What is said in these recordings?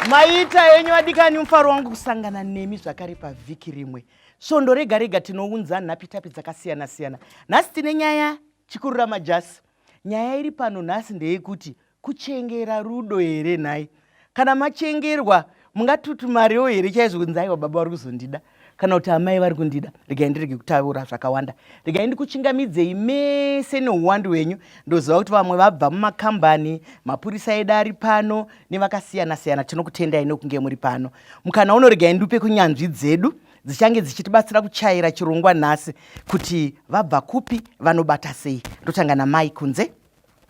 maita henyu vadikani mufaro wangu kusangana nemi zvakare pavhiki rimwe svondo rega rega tinounza nhapitapi dzakasiyana siyana nhasi tine nyaya chikurura majasi Nyaya iri pano nhasi ndeyekuti kuchengera rudo here nhai? Kana machengerwa mungatutumarewo here chaizvo kunzi aiwa baba vari kuzondida kana kuti amai vari kundida regai ndirege kutaura zvakawanda regai ndikuchingamidzei mese neuwandu hwenyu ndoziva kuti vamwe vabva mumakambani mapurisa edu ari pano nevakasiyana siyana tinokutendai nekunge muri pano mukana uno regai ndiupe kunyanzvi dzedu dzichange dzichitibatsira kuchaira chirongwa nhasi kuti vabva kupi vanobata sei ndotanga namai kunze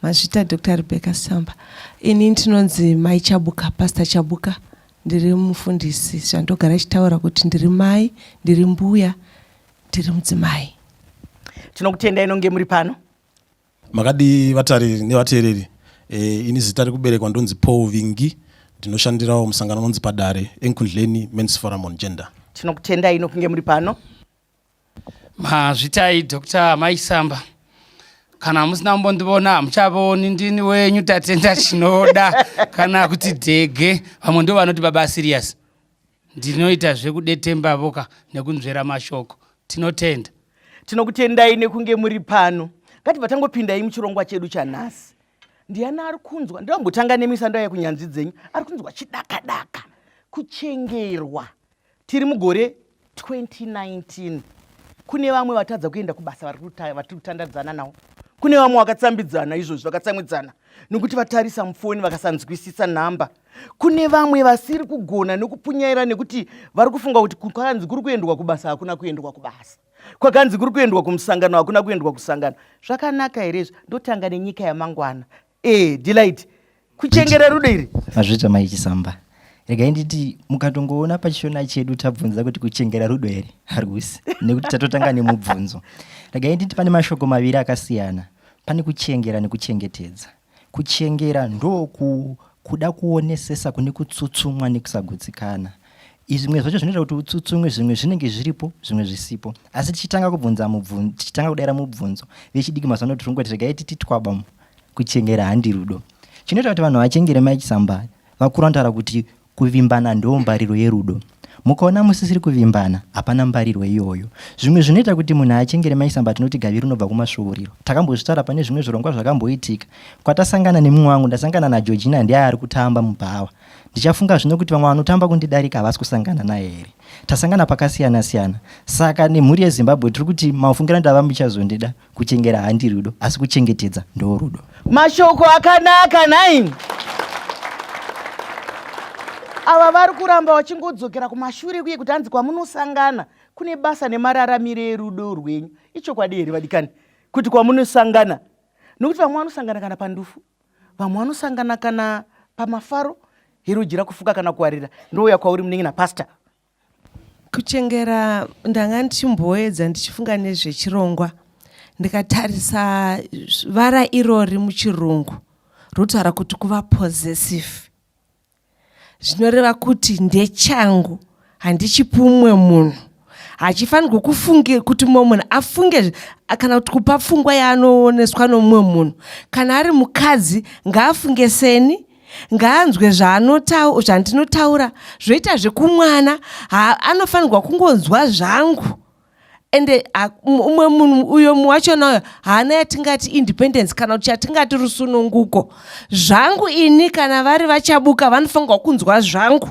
mazvita dr rebecca samba ini ndinonzi mai chabuka pastor chabuka ndiri mufundisi zvandogara ichitaura kuti ndiri mai ndiri mbuya ndiri mudzimai tinokutenda inonge muri pano makadii vatariri nevateereri e, ini zita rekuberekwa ndonzi paul vingi ndinoshandirawo musangano unonzi padare enkundleni mens forum on gender tinokutendai ino kunge muri pano mazvitai dr maisamba kana musina kumbondivona hamuchavaoni ndini wenyu tatenda chinoda kana kuti dhege vamwe ndo vanoti baba serious ndinoita zvekudetembavo ka nekunzvera mashoko tinotenda tinokutendai nekunge muri pano ngatibva tangopindai muchirongwa chedu chanhasi ndiani ari kunzwa ndambotanga nemi sando yaya kunyanzvi dzenyu ari kunzwa chidakadaka kuchengerwa tiri mugore 2019 kune vamwe vatadza kuenda kubasa vari kutandadzana nawo kune vamwe vakatsambidzana izvozvi vakatsamwidzana nokuti vatarisa mufoni vakasanzwisisa nhamba kune vamwe vasiri kugona nokupunyaira nekuti vari kufunga kuti kwakanzi kuri kuendwa kubasa hakuna kuendwa kubasa kwakanzi kuri kuendwa kumusangano hakuna kuendwa kusangano zvakanaka here izvi ndotanga nenyika yamangwana Eh, Delight. Kuchengera rudo iri. Mazvita mai Chisamba. Regai nditi mukatongoona pachishona chedu tabvunza kuti kuchengera rudo here? Harusi. Nekuti tatotanga nemubvunzo. Regai nditi pane mashoko maviri akasiyana. Pane kuchengera nekuchengetedza. Kuchengera ndoku kuda kuonesesa kune kutsutsumwa nekusagutsikana izvimwe zvacho zvinoita kuti utsutsumwe zvimwe zvinenge zviripo zvimwe zvisipo asi tichitanga kubvunza mubvunzo tichitanga kudaira mubvunzo vechidiki mazano tiri kungoti regai titi twaba kuchengera handi rudo chinoita kuti vanhu vachengere mike samba vakuru vanotaura kuti kuvimbana ndoo mbariro yerudo mukaona musisiri kuvimbana hapana mbarirwo iyoyo zvimwe zvinoita kuti munhu achengere maisamba tinoti gavi rinobva kumasvuuriro takambozvitaura pane zvimwe zvirongwa zvakamboitika kwatasangana nemumwe wangu ndasangana nageorgina ndiye ari kutamba mubhawa ndichafunga zvino kuti vamwe vanotamba kundidarika havasi kusangana naye here tasangana pakasiyana siyana saka nemhuri yezimbabwe tiri kuti mafungira ndava muchazondida kuchengera handi rudo asi kuchengetedza ndo rudo mashoko akanaka nai ava vari kuramba vachingodzokera kumashure kuye kuti hanzi kwamunosangana kune basa nemararamiro erudo rwenyu ichokwadi here vadikani kuti kwamunosangana nokuti vamwe vanosangana kana pandufu vamwe vanosangana kana pamafaro herujira kufuka kana kuwarira ndouya kwauri munenge napasta Kuchengera ndanga ndichimboedza ndichifunga nezvechirongwa ndikatarisa vara irori muchirungu rotaura kuti kuva possessive zvinoreva kuti ndechangu handichipi umwe munhu hachifanirwe kufunge kuti mumwe munhu afunge kana kuti kupa pfungwa yaanooneswa nomumwe munhu kana ari mukadzi ngaafunge seni ngaanzwe zvaanotaura zvandinotaura zvoita zvekumwana anofanirwa kungonzwa zvangu ende umwe munhu uyo wachona uyo haana yatingati independence kana kuti chatingati rusununguko zvangu ini kana vari vachabuka vanofanirwa kunzwa zvangu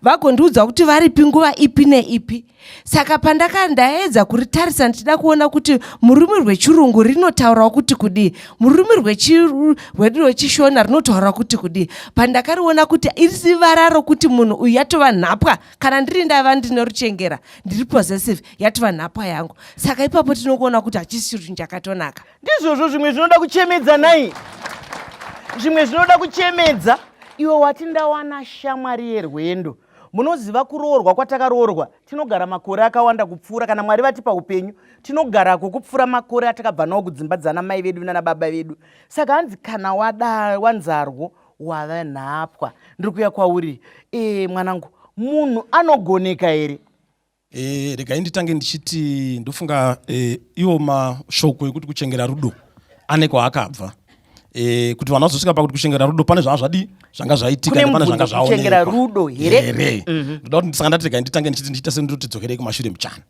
vagondiudza kuti varipi nguva ipi neipi saka pandaka ndaedza kuritarisa ndichida kuona kuti mururimi rwechirungu rinotaurawo kuti kudii mururimi rwedu rwechishona rinotaura kuti kudii pandakariona kuti iri vara rokuti munhu uyu yatova nhapwa kana ndiri ndava ndine ruchengera ndiri possessive yatova nhapwa yangu saka ipapo tinokuona kuti hachisi chinhu chakatonaka ndizvozvo zvimwe zvinoda kuchemedza nai zvimwe zvinoda kuchemedza iwe wati ndawana shamwari yerwendo Munoziva kuroorwa kwatakaroorwa tinogara makore akawanda kupfuura kana Mwari vatipa upenyu tinogarako kupfuura makore atakabva nawo kudzimba dzana mai vedu nana baba vedu saka hanzi kana wada wanzarwo wava nhapwa ndiri kuya kwauri e mwanangu munhu anogoneka here E, regai nditange ndichiti ndofunga e, iwo mashoko ekuti kuchengera rudo ane kwaakabva e, kuti vanhu vazosvika pakuti kuchengera rudo pane zvanga zvadi zvanga zvaitika pane zvanga zvaonekwa rudo here mhm. ndoda kuti ndisanga ndati regai nditange ndichiti ndichita sendoti tidzokerei kumashure muchana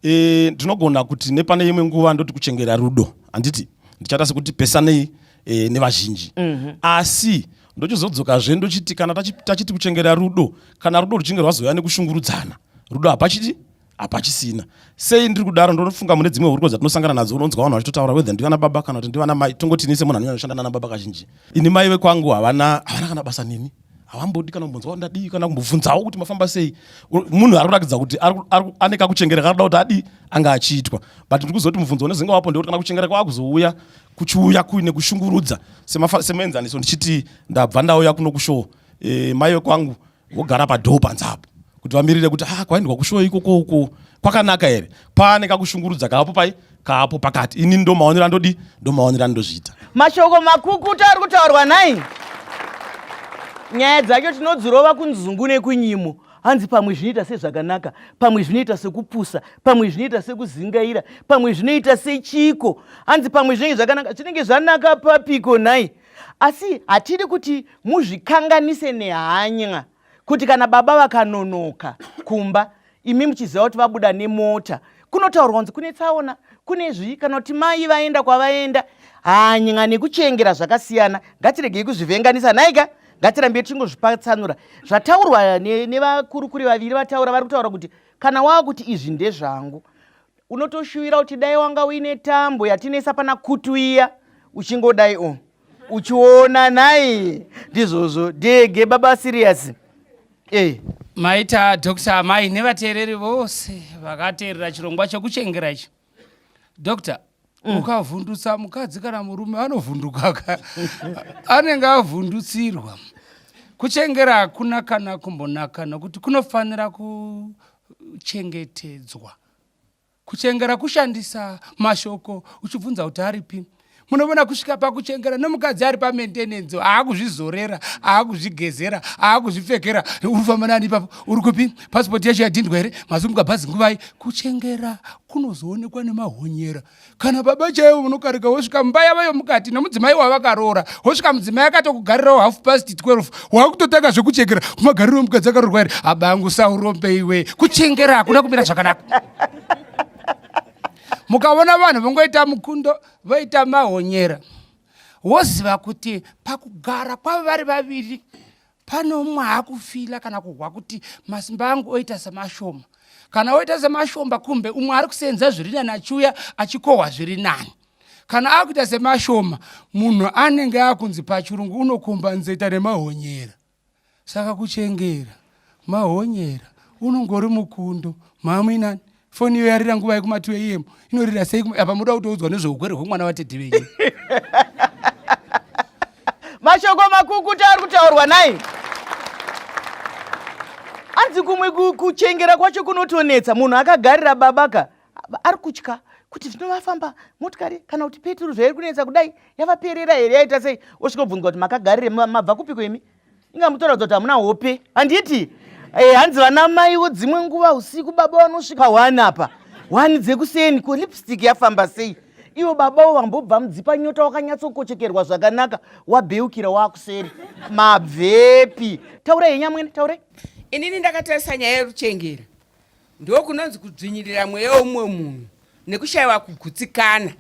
e, ndinogona kuti nepane imwe nguva ndoti kuchengera rudo handiti ndichata sekuti pesanei e, nevazhinji mm -hmm. asi ndochizodzokazve ndochiti kana tachiti kuchengera rudo kana rudo ruchinge rwazouya nekushungurudzana rudo hapachiti hapachisina sei ndiri kudaro ndonofunga mune dzimwe huriko dzatinosangana nadzo unonzwa vanhu vachitotaura wethe ndivana baba kana kuti ndivana mai tongotinii semunhu anonyanya kushanda nana baba kazhinji ini mai vekwangu havana havana kana basa neni havambodi kana kumbonzwa kuti ndadii kana kumbobvunzawo kuti mafamba sei munhu ari kuratidza kuti ane kakuchengera kanoda kuti adii anga achiitwa but ndiri kuzoti mubvunzo unezenge wapo ndekuti kana kuchengera kwaakuzouya kuchiuya kuine kushungurudza semuenzaniso ndichiti ndabva ndauya kuno kushowo e, eh, mai vekwangu vogara padhoo panze apo kuti vamirire kuti ah, kwaendwa kushowo ikoko uko kwakanaka here paane kakushungurudza kaapo pai kaapo pakati ini ndo maonero andodi ndo maonero andozviita mashoko makukuta ari kutaurwa nhai nyaya dzacho tinodzirova kunzungu nekunyimo hanzi pamwe zvinoita sezvakanaka pamwe zvinoita sekupusa pamwe zvinoita sekuzingaira pamwe zvinoita sechiko hanzi pamwe zvinenge zvakanaka zvinenge zvanaka papiko nhai asi hatidi kuti muzvikanganise nehanya kuti kana baba vakanonoka kumba imi muchiziva kuti vabuda nemota kunotaurwa kunzi kune tsaona kune zvii kana kuti mai vaenda kwavaenda hanya nekuchengera zvakasiyana ngatiregei kuzvivhenganisa nhaika ngatirambei tichingozvipatsanura zvataurwa nevakurukuri vaviri vataura vari kutaura kuti kana wava kuti izvi ndezvangu unotoshuvira kuti dai wanga uine tambo yatinesa pana kutu iya uchingodai o uchiona nhai ndizvozvo dege baba siriyasi eh. maita dr amai nevateereri vose vakateerera chirongwa chekuchengera ichi doctor mm. ukavhundutsa mukadzi kana murume anovhundukaka anenge avhundutsirwa kuchengera hakuna kana kumbonaka nokuti kunofanira kuchengetedzwa kuchengera kushandisa mashoko uchibvunza kuti aripi munovona kusvika pakuchengera nomukadzi ari pamaintenance aakuzvizorera aakuzvigezera aakuzvipfekera urifamba nani ipapo uri kupi pasipoti yacho yadhindwa here mazumuka bhazi nguvai kuchengera kunozoonekwa nemahonyera kana baba chaivo munokarika wosvika mumba yava yomukati nomudzimai wavakaroora wosvika mudzimai akatokugarirawo half past 12 waakutotanga zvekuchengera kumagariro omukadzi akaroorwa here abangu saurombeiwe kuchengera hakuna kumira zvakanaka mukaona vanhu vongoita mukundo voita mahonyera woziva kuti pakugara kwavo vari vaviri pane umwe akufila kana kuhwa kuti masimba angu oita semashoma kana oita semashomba kumbe umwe ari kusenza zviri nani achiuya achikohwa zviri nani kana akuita semashoma munhu anenge akunzi pachirungu unokomba nzeta nemahonyera Saka kuchengera mahonyera unongori mukundo mhamuinani foni iyo yarira nguva yekuma 2 am inorira sei apa muda kutoudzwa nezveugwere hwemwana vatete venyu mashoko makukuta ari kutaurwa nai anzi kumwe kuchengera kwacho kunotonetsa munhu akagarira babaka ari kutya kuti zvino vafamba motikari kana kuti peturu zvairi kunetsa kudai yavaperera here yaita sei osvika obvunzwa kuti makagarire mabva kupiko imi inga mutoratidza kuti hamuna hope handiti eh, hanzi vana maiwo dzimwe nguva usiku baba vanosvika one apa one dzekuseni ko lipstick yafamba sei iwo babawo vambobva mudzipa nyota wakanyatsokochekerwa zvakanaka wabeukira wakuseri mabvepi taurai henyamwene taurai inini ndakatarisa nyaya yeruchengera ndokunonzi kudzvinyirira mweya womumwe munhu nekushaiwa kugutsikana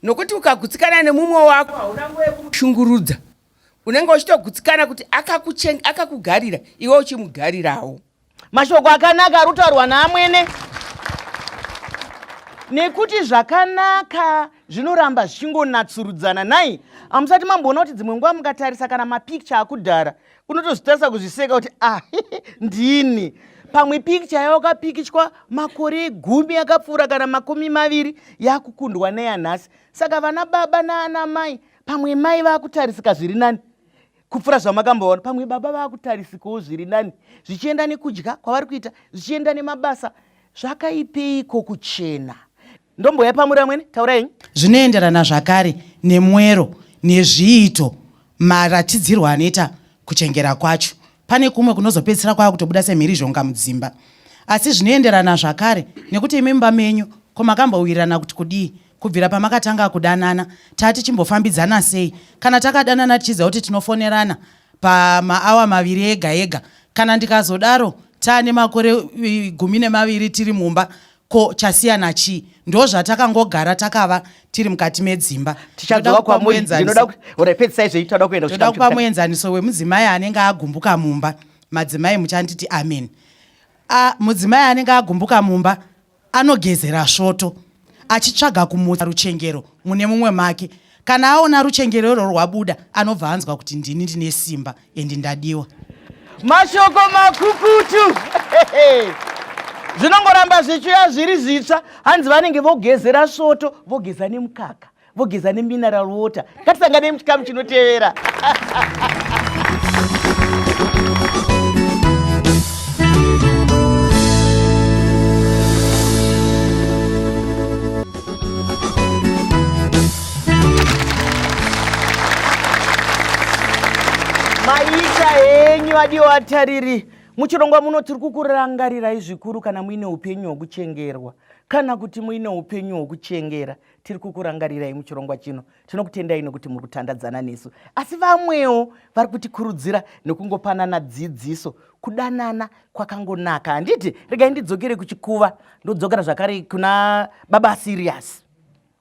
nokuti ukagutsikana nemumwe wako hauna nguva yekumushungurudza unenge uchitogutsikana kuti akakugarira iwe uchimugarirawo mashoko akanaka ari kutaurwa naamwene nekuti zvakanaka zvinoramba zvichingonatsurudzana nhai hamusati mamboona kuti dzimwe nguva mukatarisa kana mapicture akudhara unotozvitarisa kuzviseka kuti ah ndini pamwe pikicha yawakapikichwa makore gumi yakapfuura kana makumi maviri yakukundwa neyanhasi saka vana baba naana mai pamwe mai vakutarisika zviri nani kupfuura zvamakamboona pamwe baba vakutarisikawo zviri nani zvichienda nekudya kwavari kuita zvichienda nemabasa zvakaipeiko kuchena ndomboyapamura amwene taurai zvinoenderana zvakare nemwero nezviito maratidzirwo anoita kuchengera kwacho pane kumwe kunozopedzisira kwava kutobuda semhirizhonga mudzimba asi zvinoenderana zvakare nekuti imi mumba menyu ko makambowirirana kuti kudii kubvira pamakatanga kudanana taa tichimbofambidzana sei kana takadanana tichiziva kuti tinofonerana pamaawa maviri ega ega kana ndikazodaro taa nemakore gumi nemaviri tiri mumba ko chasiyana chii ndozvatakangogara takava tiri mukati medzimba tichadzoka kwamuri ndinoda ora pedzisai zveyi toda kuenda kuchikafu kupa muenzaniso wemudzimai anenge agumbuka mumba madzimai muchanditi amen a mudzimai anenge agumbuka mumba anogezera svoto achitsvaga kumutsa ruchengero mune mumwe make kana aona ruchengerero rwabuda anobva anzwa kuti ndini ndine simba endi ndadiwa mashoko makukutu zvinongoramba zvichiuya zviri zvitsva hanzi vanenge vogezera svoto vogeza nemukaka vogeza nemineral water ngatisanganei muchikamu chinotevera maita henyu adiwo atariri muchirongwa muno tiri kukurangarirai zvikuru kana muine upenyu hwokuchengerwa kana kuti muine upenyu hwokuchengera tiri kukurangarirai muchirongwa chino tinokutendai nokuti muri kutandadzana nesu asi vamwewo vari kutikurudzira nekungopanana dzidziso kudanana kwakangonaka handiti regai ndidzokere kuchikuva ndodzokera zvakare kuna baba sirius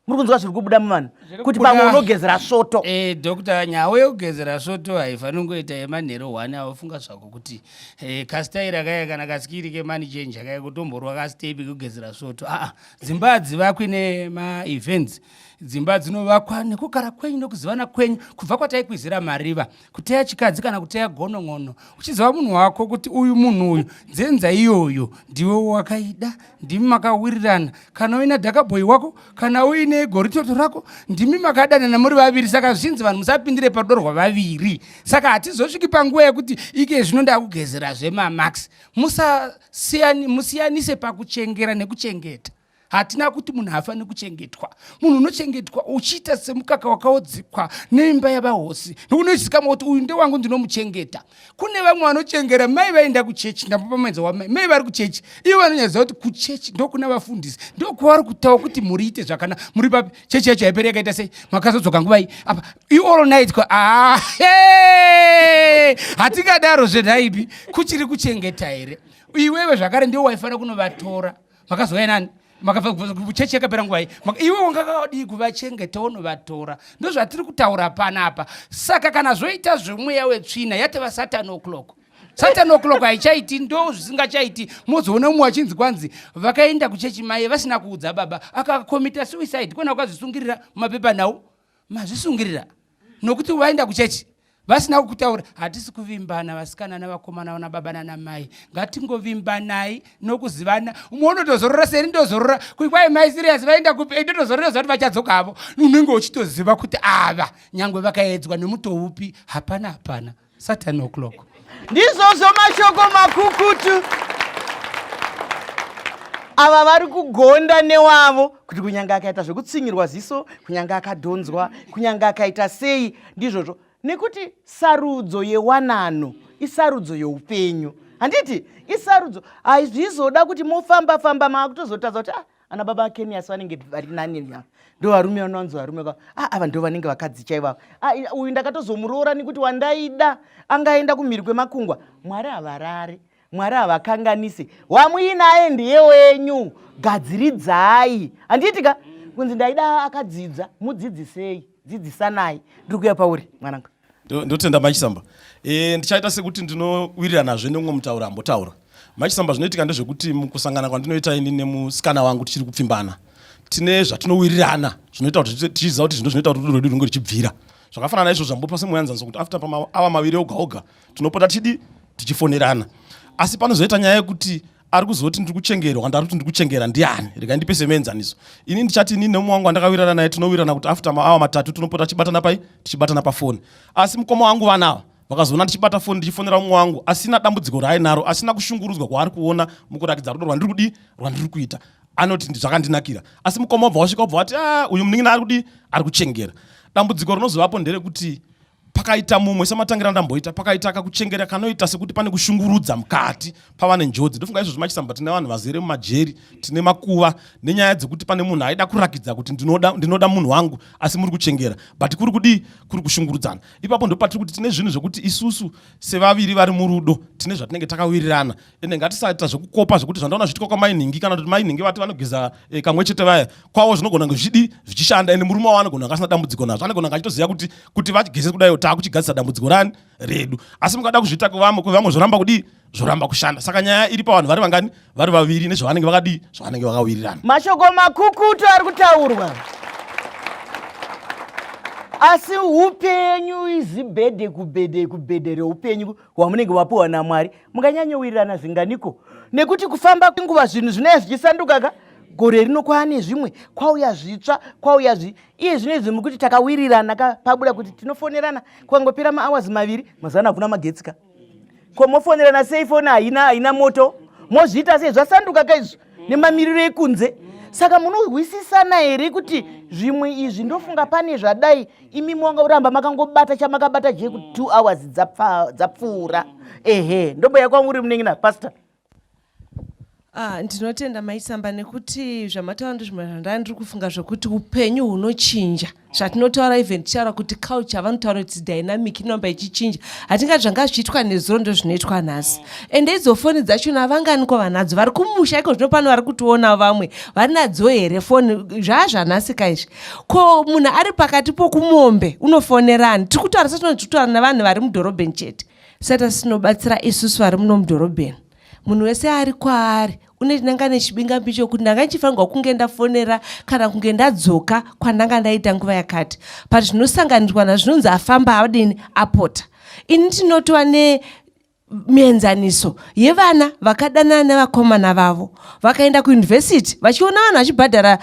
muri kunzwa zviri kubuda muvanhu kuti pamwe unogezera svoto e, dokta nyawo yekugezera svoto haifaniri kungoita yemanhero one aofunga zvako kuti e, kasitairi akaya kana kasikiri kemani chenji akaya kutomborwa kasitepi kugezera svoto aa dzimba hadzivakwi nemaevents dzimba dzinovakwa nekugara kwenyu nokuzivana kwenyu kubva kwataikwizira mariva kuteya chikadzi kana kuteya gonon'ono uchiziva munhu wako kuti uyu munhu uyu dzenza iyoyo ndiwe wakaida ndimi makawirirana kana uina dhakabhoyi wako kana uine goritoto rako ndimi makadanana muri vaviri saka zvinzi vanhu musapindire parudo rwavaviri saka hatizosviki panguva yekuti ike zvino ndakugezera zvemamax musiyanise pakuchengera nekuchengeta hatina kuti munhu haafaniri kuchengetwa munhu unochengetwa uchiita semukaka wakaodzikwa neimba yavahosi nokunoizikamwa kuti uyu ndewangu ndinomuchengeta kune vamwe vanochengera mai vaenda kuchechi ndambopamaidza wamai mai vari kuchechi ivo vanonyadzisa kuti kuchechi ndokuna vafundisi ndokuvari kutaura kuti mhuri ite zvakanaka muri papi chechi yacho haiperi yakaita sei makazodzoka nguvai apa iall night kwa ah, hatingadaro zvenhaipi kuchiri kuchengeta here iwewe zvakare ndiwo waifanira kunovatora makazouya nani makabvachechi yakapera nguva iyi iwe wanga kawadii kuvachengeta unovatora ndozvatiri kutaura panapa saka kana zvoita zvemweya wetsvina yateva satan o'clock satan o'clock haichaiti ndo zvisingachaiti mozoona umwe wachinzi kwanzi vakaenda kuchechi maye vasina kuudza baba akakomita suicide kona kukazvisungirira mumapepa nhau mazvisungirira nokuti vaenda kuchechi vasina kukutaura hatisi kuvimbana vasikana navakomana vana baba nana mai ngatingovimbanai nokuzivana umwe unotozorora seni ndozorora kuti kwai mai sirias vaenda kupi eh, ndotozorora zva kuti vachadzoka havo unenge uchitoziva kuti ava nyangwe vakaedzwa nemuto upi hapana hapana Saturn o'clock. Ndizvozvo mashoko makukutu ava vari kugonda newavo kuti kunyange akaita zvekutsinyirwa ziso kunyange akadhonzwa kunyange akaita sei ndizvozvo nekuti sarudzo yewanano isarudzo youpenyu handiti isarudzo hazvizoda kuti mofamba famba maakutozotadza kuti ah, ana baba kenias vanenge vari nani ya ndovarume vanonzi varume ka a ava ndo vanenge vakadzi chaivavo uyu ndakatozomuroora nekuti wandaida angaenda kumhiri kwemakungwa mwari havarare mwari havakanganise wamuinaye ndiye wenyu gadziridzai handiitika kunzi ndaida akadzidzwa mudzidzisei dzidzisanai ndiri kuya pauri mwananga ndotenda machisamba e, ndichaita sekuti ndinowiriranazve neumwe mutauro ambotaura machisamba zvinoitika ndezvekuti mukusangana kwandinoita ini nemusikana wangu tichiri kupfimbana tine zvatinowirirana zvinoita kuti tichiziva kuti zvino zvinoita kuti rudo rwedu runge richibvira zvakafanana naizvo zvambopa semuyanzaniso kuti after pamaava maviri oga oga tinopota tichidi tichifonerana asi panozoita nyaya yekuti ari kuzoti ndiri kuchengerwa ndari kuti ndiri kuchengera ndiani rega ndipe semuenzaniso ini ndichati ini nemumwe wangu wandakawirana naye tinowirana kuti after maawa matatu tinopota tichibatana pai tichibatana pafoni asi mukoma wangu vanawa vakazoona ndichibata foni ndichifonera mumwe wangu asina dambudziko raainaro asina kushungurudzwa kwaari kuona mukurakidza rudo rwandiri kudii rwandiri kuita anoti zvakandinakira asi mukoma obva wasvika obva wati ah, uyu munin'ina ari kudii ari kuchengera dambudziko rinozovapo nderekuti pakaita mumwe sematangira ndamboita pakaita kakuchengera kanoita sekuti pane kushungurudza mukati pavane njodzi ndofunga izvozvo machisamba tine vanhu vazere mumajeri tine makuva nenyaya dzekuti pane munhu aida kurakidza kuti ndinoda, ndinoda munhu wangu asi muri kuchengera but kuri kudii kuri kushungurudzana ipapo ndopatiri kuti tine zvinhu zvekuti isusu sevaviri vari murudo tine zvatinenge takawirirana ende ngatisaita zvekukopa zvekuti zvandaona zviitika kwamai nhingi kana kuti mai nhingi vati vanogeza eh, kamwe chete vaya kwavo zvinogona kunge zvichidi zvichishanda ende murume wavo anogona kunge asina dambudziko nazvo anogona kunge achitoziva kuti kuti vachigeze kudaio taakuchigadzisa dambudziko rani redu asi mukada kuzviita kwevamwe kwevamwe zvoramba kudii zvoramba kushanda saka nyaya iri pavanhu vari vangani vari vaviri nezvavanenge vakadii zvavanenge vakawirirana mashoko makukutu ari kutaurwa asi upenyu izibhedhe kubhedhe kubhedhe reupenyu hwamunenge wapiwa namwari munganyanyowirirana zvinganiko nekuti kufamba kwenguva zvinhu zvinaya zvichisanduka ka gore rino kwaane zvimwe kwauya zvitsva kwauya zvi iye zvino izvi mukuti takawirirana ka pabuda kuti tinofonerana kwangopera maawazi maviri mazana hakuna magetsi ka ko mofonerana sei foni haina haina moto mozviita sei zvasanduka ka izvi nemamiriro ekunze saka munohwisisana here kuti zvimwe izvi ndofunga pane zvadai imi manga uramba makangobata chamakabata je kuti two hours dzapfuura ehe ndombo yakwanga uri munenge napastor Ah, ndinotenda maisamba nekuti zvamataura ndizvo zvandandiri kufunga zvekuti upenyu hunochinja zvatinotaura even tichitaura kuti culture vanotaura kuti dynamic inoramba ichichinja hatingati zvanga zvichiitwa nezuro ndo zvinoitwa nhasi and idzo foni dzachona vanganiko vanadzo vari kumusha iko zvino pano vari kutionawo vamwe vari nadzo here foni zvaa zvanhasika izvi ko munhu ari pakati pokumombe unofonerani tiri kutaura satinoti tiri kutaura navanhu vari mudhorobheni chete sata sinobatsira isusu vari muno mudhorobheni munhu wese ari kwaari une ndanga nechibingambi chokuti ndanga ndichifanirwa kunge ndafonera kana kunge ndadzoka kwandanga ndaita nguva yakati but zvinosanganirwa nazvinonzi afamba adini apota ini tinotova ne mienzaniso yevana vakadanana nevakomana vavo vakaenda kuyunivhesiti vachiona vanhu vachibhadhara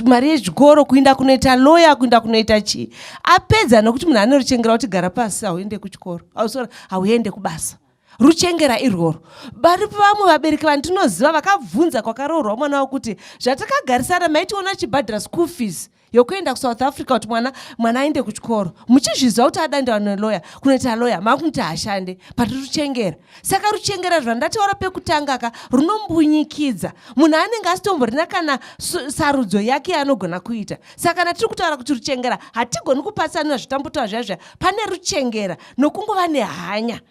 mari yezvikoro kuinda kunoita loya kuinda kunoita chii apedza nokuti munhu anorichengera kuti gara pasi hauende kuchikoro hauende kubasa ruchengera irworwo varipo vamwe vabereki vandinoziva vakabvunza kwakaroorwa mwana wavo kuti zvatakagarisana maitiona chibhadhira school fees yokuenda kusouth africa kuti mwana mwana aende kuchikoro muchizviziva kuti adandiwa neloya kunoita loya makunoti hashande pati ruchengera saka ruchengera rwandataura pekutanga ka runombunyikidza munhu anenge asitomborina kana sarudzo yake yaanogona kuita saka kana tiri kutaura kuti ruchengera hatigoni kupatsanira zvitambutoa zvazva pane ruchengera nokungova nehanya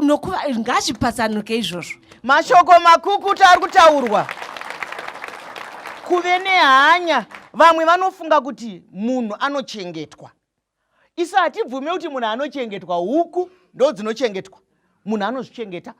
nokuva ngazvipatsanuke izvozvo mashoko makukuta ari kutaurwa kuve nehanya vamwe vanofunga kuti munhu anochengetwa isu hatibvume kuti munhu anochengetwa huku ndo dzinochengetwa munhu anozvichengeta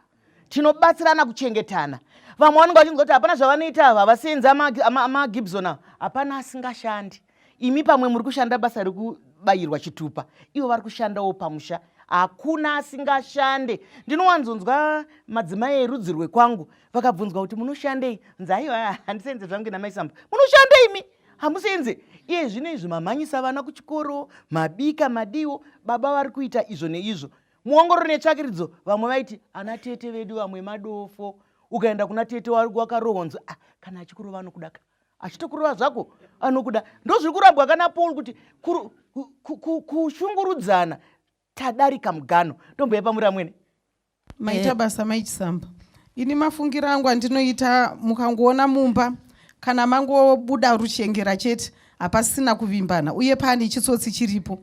tinobatsirana kuchengetana vamwe vanenge vachinzwa kuti hapana zvavanoita ava vasienzi amagibson ava hapana asingashandi imi pamwe muri kushanda basa rekubayirwa chitupa ivo vari kushandawo pamusha hakuna asingashande ndinowanzonzwa madzimai erudzi rwekwangu vakabvunzwa kuti munoshandei nzaiwa handisenze zvangu namaisamba munoshandei mi hamusenze iye zvino izvi mamhanyisa vana kuchikoro mabika madiwo baba vari kuita izvo neizvo Muongororo netsvakiridzo vamwe vaiti ana tete vedu vamwe madofo. Ukaenda kuna tete wakarohwa nzi ah, kana achikurova anokuda ka. Achitokurova zvako anokuda. Ndozviri kurambwa kana Paul kuti kushungurudzana tadarika mugano. Ndomboya pamuri amwene. Maita eh. basa maichisamba. Ini mafungira angu andinoita mukangoona mumba kana mangobuda ruchengera chete hapasina kuvimbana uye pane chitsotsi chiripo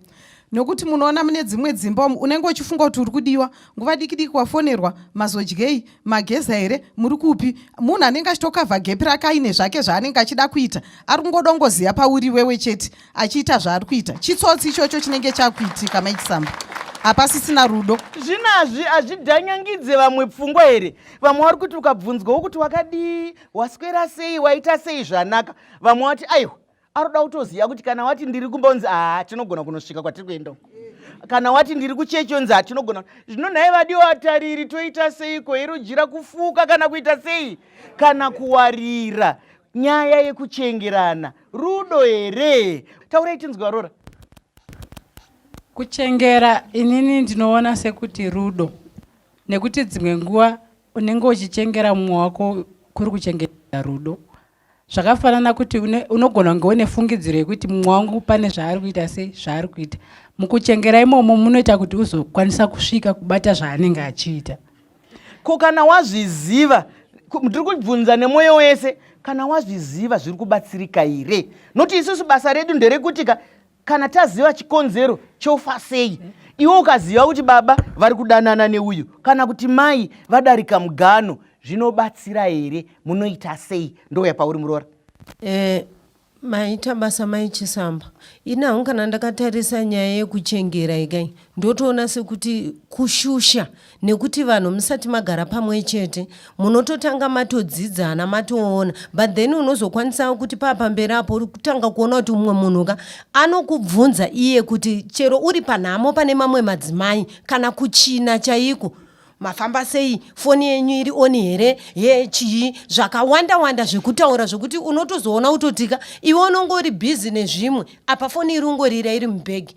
nokuti munoona mune dzimwe dzimba umu unenge uchifunga kuti uri kudiwa nguva diki diki wafonerwa mazodyei mageza here muri kupi munhu anenge achitokavha gepi rake aine zvake zvaanenge achida kuita ari kungodongoziva pauri wewe chete achiita zvaari kuita chitsotsi ichocho chinenge chakuitika maichisamba hapasisina rudo zvinazvi hazvidhanyangidze vamwe pfungwa here vamwe vari kuti ukabvunzwa wokuti wakadii waswera sei waita sei zvanaka vamwe wati aiwa aroda kutoziva kuti kana wati ndiri kumba unzi haa tinogona kunosvika kwatiri kuenda uko kana wati ndiri kuchechi unzi haa tinogona zvino nhai vadiwo atariri toita seiko irujira kufuka kana kuita sei kana kuwarira nyaya yekuchengerana rudo here taurai tinzwa rora kuchengera inini ndinoona sekuti rudo nekuti dzimwe nguva unenge uchichengera mumwe wako kuri kuchengetera rudo zvakafanana kuti unogona kunge une fungidziro yekuti mumwe wangu pane zvaari kuita sei zvaari kuita mukuchengera imomo munoita kuti uzokwanisa kusvika kubata zvaanenge achiita ko kana wazviziva ndiri kubvunza nemwoyo wese kana wazviziva zviri kubatsirika here noti isusu basa redu nderekuti ka kana taziva chikonzero chofa sei iwe ukaziva kuti baba vari kudanana neuyu kana kuti mai vadarika mugano zvinobatsira here munoita sei ndouya pauri muroora eh, maita basa mai chisamba ini hangu kana ndakatarisa nyaya yekuchengera ikai ndotoona sekuti kushusha nekuti vanhu musati magara pamwe chete munototanga matodzidzana matoona but then unozokwanisa kuti paapamberi apo uri kutanga kuona kuti umwe munhu ka anokubvunza iye kuti chero uri panhamo pane mamwe madzimai kana kuchina chaiko mafamba sei foni yenyu iri oni here ye chii zvakawanda wanda zvekutaura zvekuti unotozoona utotika iwe unongori bhizi nezvimwe apa foni iri ungorira iri mubhegi